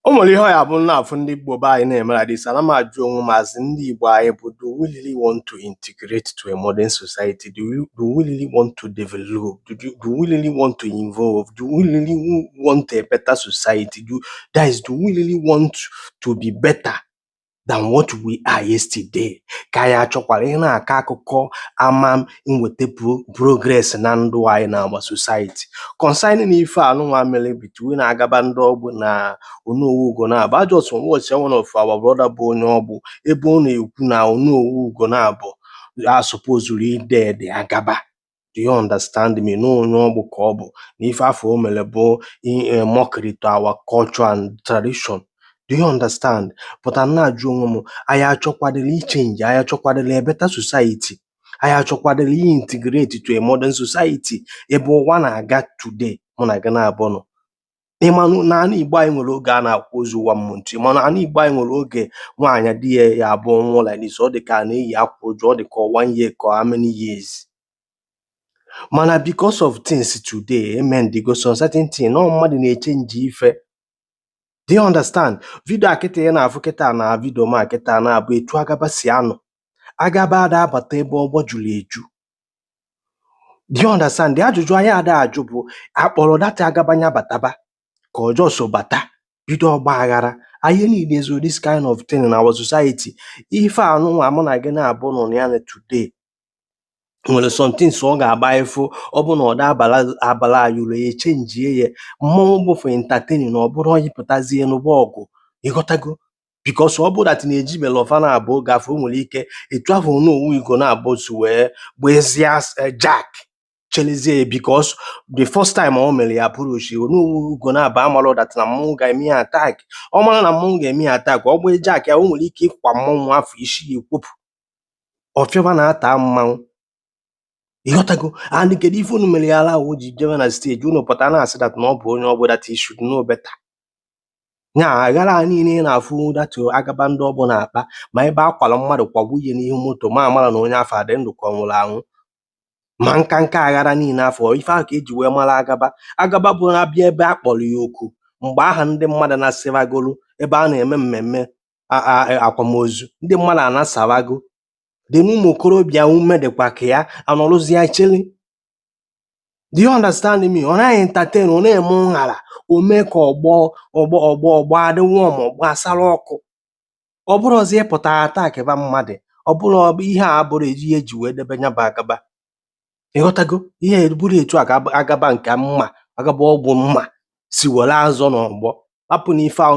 O nwere ihe ọ ya-abụ m na-afụ ndị Igbo be anyị na-eme like this, ana m ajụ onwe m as ndị Igbo anyị bụ do we really want to integrate to a modern society? Do we, do we really want to develop? Do, do, do we really want to involve? Do we really want a better society? Do, guys, do we really want to be better? than what we are yesterday ka anyị achọkwara ị na-akọ akụkọ ama nweta progress na ndụ anyị na our society concerning ife anụnwa mere between agaba ndị ọgbụ na Onowu Ugonabọ I just watch one of our brother bụ onye ọgbụ ebe ọ na-ekwu na Onowu Ugonabọ asupposurọ ị dare the agaba Do you understand me? Na onye Ọgbụ ka ọ bụ na ife afụ o mere bụ eh, mockery to our culture and tradition. Do you understand? But ana m ajụ onwe m, anyị achọkwadịrị ichenji, anyị achọkwadịrị a better society. Anyị achọkwadịrị ị integrate to a modern society ebe ụwa na-aga today mụ na gị naabọ nọ. ịmanụ na ana igbo anyị nwere oge a na-akwụ ozu ụwa mmụntụ ịmanụ ana igbo anyị nwere oge nwaanyị di ya ya-abụ ọ nwụọ like this ọ dị ka a na-eyi akwa uju ọ dị ka one year ka how many years mana because of things today amendigo some certain thing na mmadụ na-echenji ife do you understand video a kịta ya na-afụ kịta na video m a kịta na-abụ etu agaba si anọ agaba ada abata ebe ọgbọ juru eju do you understand the ajụjụ anyị ada ajụ bụ a kpọrọ that agaba nya bataba ka ọ just bata bido ọgba aghara anyị niile so this kind of thing in our society ife anụnwa mụ na gị naabọ nọ na ya na today nwere some things ọ ga-abụ ị fụ ọ bụ na ọ da abara anyị uru echenjie ya mmọnwụ bụ for entertaining na ọ bụrọ onye pụtazie n'ọgbọ ọgụ ịghọtago because ọ bụrụ that na eji mere ọfa na abụọ gafe o nwere ike etu ahụ Onowu Ugonabọ si wee gbezie jack chelezie ya because the first time ọ mere ya approach Onowu Ugonabọ amarọ that na mmọnwụ ga-eme ya attack ọ mara na mmọnwụ ga-eme ya attack ọ gbee jack ya o nwere ike ịkwa mmọnwụ afụ isi ya ekwopụ ọfịọba na-ata mmanwụ ịghọtago and kedu ife unu mere ya allow o ji jebe na stage unu pụta na-asị that na ọ bụ onye Ọgbụ that he should know better nya aghara a niile ị na-afụ that agaba ndị Ọgbụ na-akpa ma ebe a kwara mmadụ kwagbu ihe n'ihu moto ma amara na onye afụ ọ dị ndụ ka ọ nwụrụ anwụ ma nka nka aghara niile afụ ife ahụ ka eji wee mara agaba agaba bụ na-abịa ebe a kpọrọ ya oku mgbe ọha ndị mmadụ nasaragolu ebe a na-eme mmemme a- a- akwamozu ndị mmadụ anasarago dị n'ụmụ okorobịa ume dịkwa ka ya anọrụzie chili do you understand me ọ na-entertain ọ na-eme nhara o mee ka ọgbọ ọgbọ ọgbọ ọgbọ adị warm ọgbọ asara ọkụ ọ bụrụzie ịpụta attackịba mmadụ ọ bụrụ ihe a bụrụ ihe eji wee debe nya bụ agaba ịghọtago ihe bụrụ etu agaba nke mma agaba ogbu mma si were azọ n'ọgbọ hapụ n'ife ahụ